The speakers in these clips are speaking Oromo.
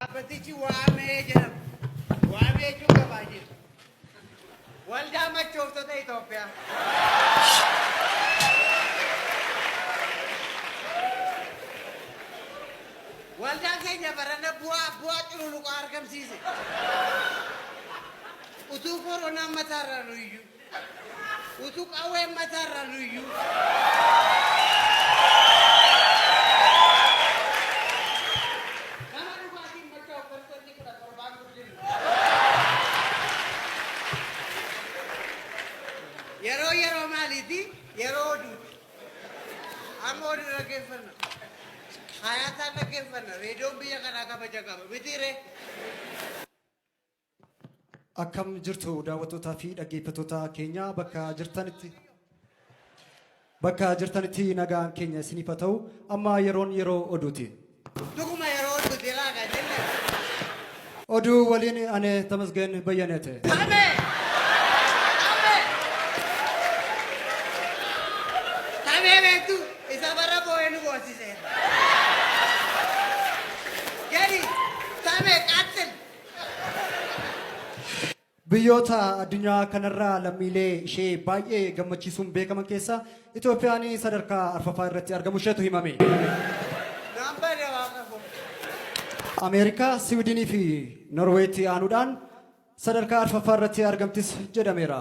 Dhaabbatichi waamee jedhama. Waamee jechuun gabaa jechuudha. Waldaa machooftota Itoophiyaa. Waldaan keenya barana bu'aa bu'aa cululuqaa argamsiise. Utuu koronaan mataarra nu iyyuu. Utuu qawween mataa irra luyyuu. Nama dhugaatiin machaa'u persentii kudha torbaan guddifna. Yeroo yeroo maaliiti? Yeroo oduuti. Amma oduu dhaggeeffanna. Hayaataan dhaggeeffanna. Reediyoon biyya kanaa kabaja qaba. Mitiiree? Akkam jirtu daawwattootaa fi dhaggeeffattoota keenya bakka jirtanitti bakka jirtanitti nagaan keenya isiniif haa ta'u amma yeroon yeroo oduuti. Dhuguma yeroo oduuti irraa kan jenne. Oduu waliin ani Tamasgeen Bayyaneete. Amee! Amee! Tamee beektu isa bara boo'ee nu boonsiseera. Gadi! Tamee qaxxil! Biyyoota addunyaa kanarraa lammiilee ishee baay'ee gammachiisuun beekaman keessaa Itoophiyaan sadarkaa arfaffaa irratti argamu isheetu himame. Ameerikaa, Siwiidinii fi Norweetti aanuudhaan sadarkaa arfaffaa irratti argamtis jedhameera.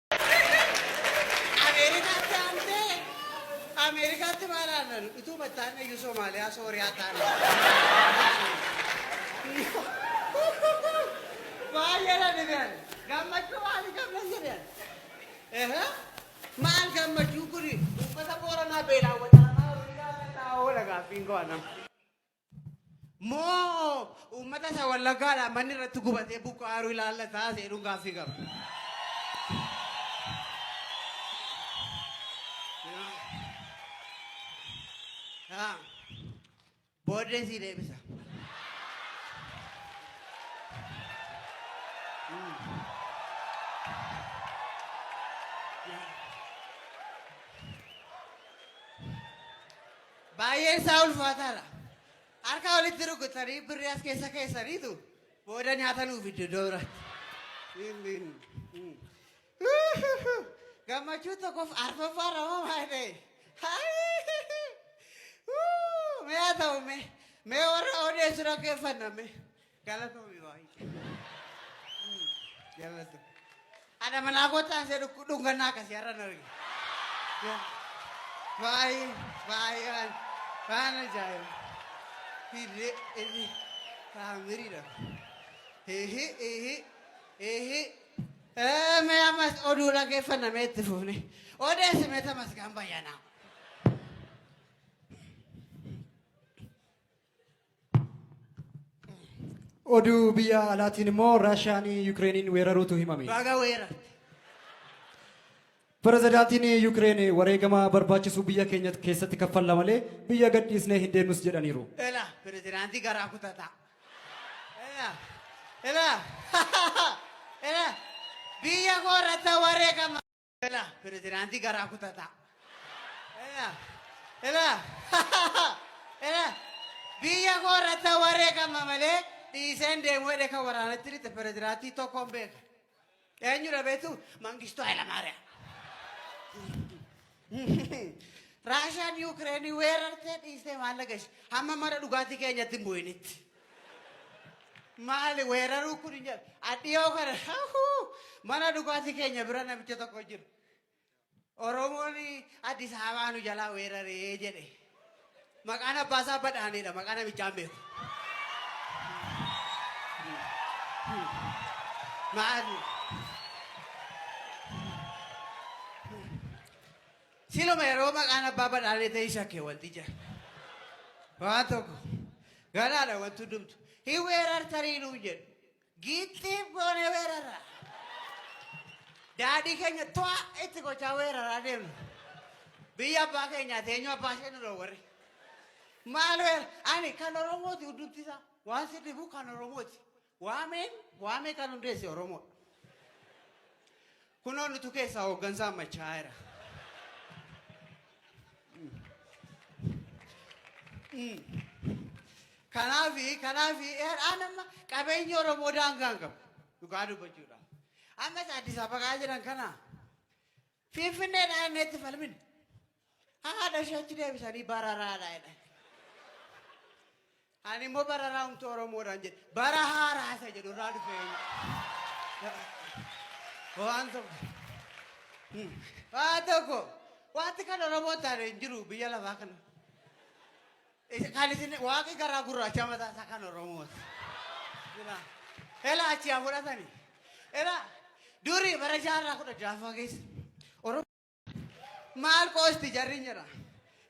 Ameerikaatti aantee Ameerikaatti maal aannan utuu battaan iyyuu Somaaliyaa Sooriyaa taana. Baay'ee na dhibean gammachuu maalii qabna jedhan. Ehe maal gammachuu kuni uummata booranaa beelaan wal dhaanaa horii gaafannaa oola gaaffiin koo anam. Moo uummata isa wallaggaadhaan manni irratti gubatee buqqaaru ilaallataa seenuun gaaffii qaba. Ah, Booddee sii deebisa. Baay'een isaa ulfaataadha. Harka walitti rukutanii birrii as keessa keessaniitu booda nyaata nuu fiddu iddoo biraatti. Gammachuu tokkoof arfaffaa ramaa maal ta'e? Mee haa ta'u mee mee warra odeessu dhaggeeffanna mee. Galatoomi baay'ee. Jallatu. Haadha manaa kootaa ishee dhukku- dhungannaa akkasii har'a na arge. Baay'ee baay'ee waan waan ajaa'iba. Hirree hirree taamiriidha. Eehi eehi eehi. Ee, Mee ammas oduu dhaggeeffanna mee itti fuufne. Odeessi mee tamasgaan bayyanaa. Oduu biyya alaatiin immoo Raashiyaan Yukireeniin weeraruutu himame. Baga weerarte. Pirezidaantiin Yukireen wareegama barbaachisu biyya keenya keessatti kaffalla malee biyya gadhiisnee hin deemnus jedhaniiru. Ela pirezidaantii garaa kutataa. Ela ela ela biyya koo irratti wareegama. Ela pirezidaantii garaa kutataa. Ela ela ela biyya koo irratti wareegama malee dhiiseen deemuu jedhee kan waraanatti dhiite pirezidaantii tokkoon beeka. Eenyudha beektu Mangistuu Hayilamaariyaam. Raashiyaan Yuukireenii weerartee dhiistee maal dhagashi hamma mana dhugaatii keenyatti hin bu'initti. Maali weeraruu kun hin jedhu. Adhiyoo kana hahuu, mana dhugaatii keenya bira namicha tokko jiru. Oromoon Addis Ababaa nu jalaa weeraree jedhe. Maqaan abbaa isaa badhaanedha. Maqaa namichaa hin beeku. Maali? Siluma yeroo maqaan abbaa badhaalee ta'ii shakke wanti jira. Waan tokko garaadha wanti hundumtu. Hin weerartarii nuun jedhu. Giixxiif goonee weerara. Daadhii keenya to'a itti gochaa weeraraa deemnu. Biyya abbaa keenyaa teenyoo abbaa ishee nu warri. Maal weera? Ani kan Oromooti hundumti isaa. Waan si dhibu kan Oromooti. Waameen waamee kan hundeesse Oromoodha. Kunoo nutu keessaa hooggansaan machaa'eera. Kanaafi kanaafi har'aan amma qabeenyi Oromoo daangaan qabu dhugaa dubbachuudhaaf. Ammas Addis Ababaa jiran kana Finfinneedhaan inni itti falmine. Haadha ishee achi deebisanii bararaadha jedhan. Ani immoo bararaa humti Oromoodhaan jedhe. Bara haaraa isa jedhu irraa dhufee. Waan tokko. Waan tokko. Wanti kan Oromoo taane hin jiru biyya lafaa kana. Isa- Kan isin waaqi garaa gurraacha mataa isaa kan Oromooti. Jira. Ela achi haa fudhatani. Ela durii bara jaarraa kudha jahaffaa keessa. Oromoo Maal qoosti jarri jira.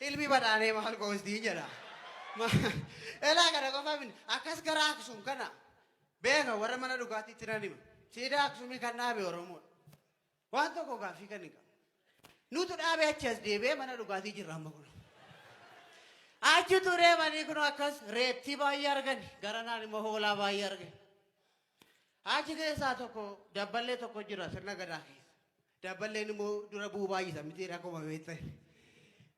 Ilmi badhaanee maal qoosti jedha. Elaa kana qofa miti. Akkas gara Aksum kana beeka warra mana dhugaatiitti nan hima. Siidaa Aksumii kan dhaabe Oromoodha. Waan tokko gaaffii kan hin qabu. Nutu dhaabe achi as deebi'ee mana dhugaatii jirra amma kun. Achi turee manii kun akkas reettii baay'ee argani. Gara naan immoo hoolaa baay'ee argani. Achi keessaa tokko dabballee tokko jira sirna gadaa keessa. Dabballeen immoo dura bu'uu baay'isa miti rakkuma beekte.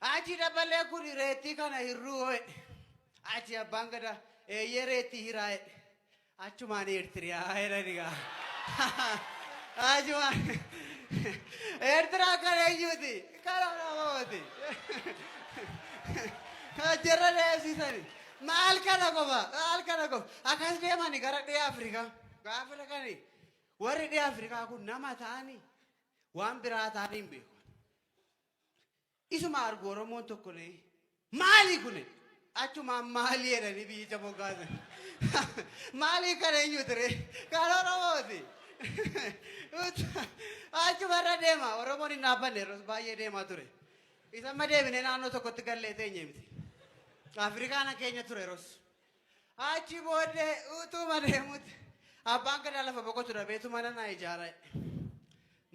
Achi dabballee kun reettii kana hirruu jedhe. Achi abbaan gadaa eeyyee reettii hiraa jedhe. Achumaan Eertiriyaa jedhani gaa. Achumaan Eertiraa kan eenyuuti? Kan Oromooti. Achirra deemsisani. Maal kana qofa? Maal kana qofa? Akkas deemani gara dhiha Afrikaa. Gaafa dhaqani Warri dhiha Afrikaa kun nama ta'anii waan biraa ta'anii hin beeku. Isuma argu Oromoon tokko ni maali kuni achumaan maali jedhanii biyyicha moggaasan. Maali kan eenyu ture? Kan Oromooti. Achumarra deema Oromoon hin dhaabbanne yeroo baay'ee deemaa ture. Isa amma deebinee naannoo tokkotti gallee teenye miti. Afrikaana keenya ture yeroos. Achi booddee utuma deemutti abbaan gadaa lafa boqotu dhabeetu mana naa ijaara.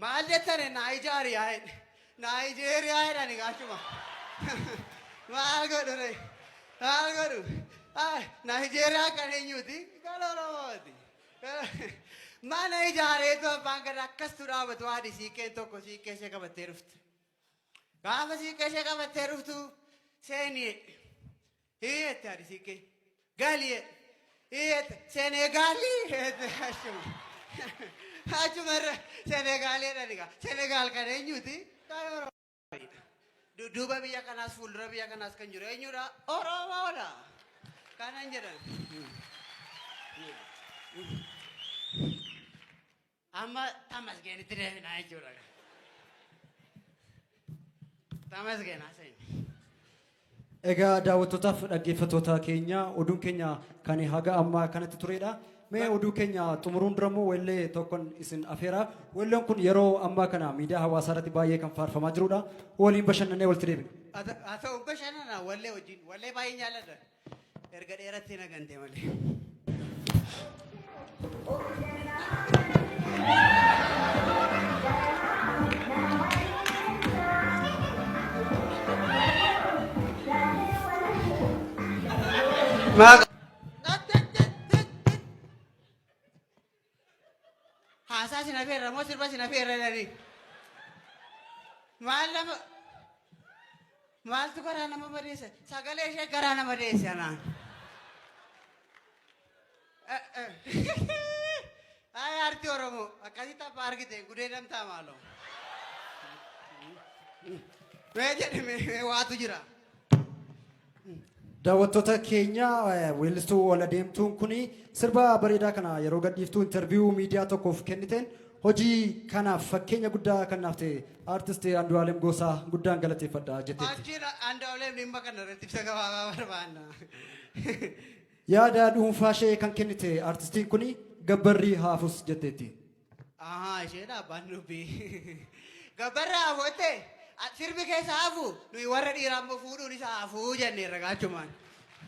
Maal jettane naa ijaari yaa jedhe. Naa ijeeriyaa jedhani gaachuma. Maal godhu ree? Maal godhu? Naa ijeeriyaa kan eenyuuti? Kan Oromooti. Mana ijaareetu abbaan gadaa akkastuu dhaabatu haadhi siiqqeen tokko siiqqee ishee qabattee dhufte. Gaafa siiqqee ishee qabattee dhuftu seeni jedhe. Hii jette hadisiin kee. Gaali jedhe. Hii jette Senegaali jette achuma. Achuma irra Senegaali jedhani gaa. Senegaal kan eenyuti? Kan Oromoodha. Dudduuba biyya kanaas fuuldura biyya kanaas kan jiru eenyudha? Oromoodha. Kanan jedhan. Amma tamasgeenitti deebinaa jechuudha. Tamasgeen haasa'in. Egaa daawwattootaaf dhaggeeffattoota keenya oduun keenya kan haga ammaa kanatti turedha. Mee oduu keenya xumuruun dura immoo weellee tokkon isin afeera. Weelleen kun yeroo ammaa kana miidiyaa hawaasaa irratti baay'ee kan faarfamaa jirudha. Waliin bashannanee walitti deebina. Haa ta'u bashannana wallee wajjin. Wallee baay'een jaalladha. Erga dheerattee na gante malee. Maa Haasaa sin afeerra moo sirba sin afeerra jedhanii. Maal nama maaltu garaa nama madeessa sagalee ishee garaa nama deesse anaan. Haaya artii Oromoo akkasitti abbaa argite gudee damtaa maaloo. Mee jedhame waatu jira. Daawwattoota keenya weellistuu ol adeemtuun kun sirba bareedaa kana yeroo gadhiiftuu interviyuu miidiyaa tokkoof kenniteen hojii kanaaf fakkeenya guddaa kan naaf ta'e aartisti Andu'aalem Goosaa guddaan galateeffadha jetteetti. Achiin Andu'aalem dhimma kana irratti ibsa gabaabaa barbaanna. Yaada dhuunfaa ishee kan kennite aartistiin kun gabbarri haafus jetteetti. Ahaa isheedha abbaan dubbii. Gabbarraa hafoottee sirbi keessa hafu nuyi warra dhiiraa immoo fuudhuun isa hafuu jenneerra gaachumaan.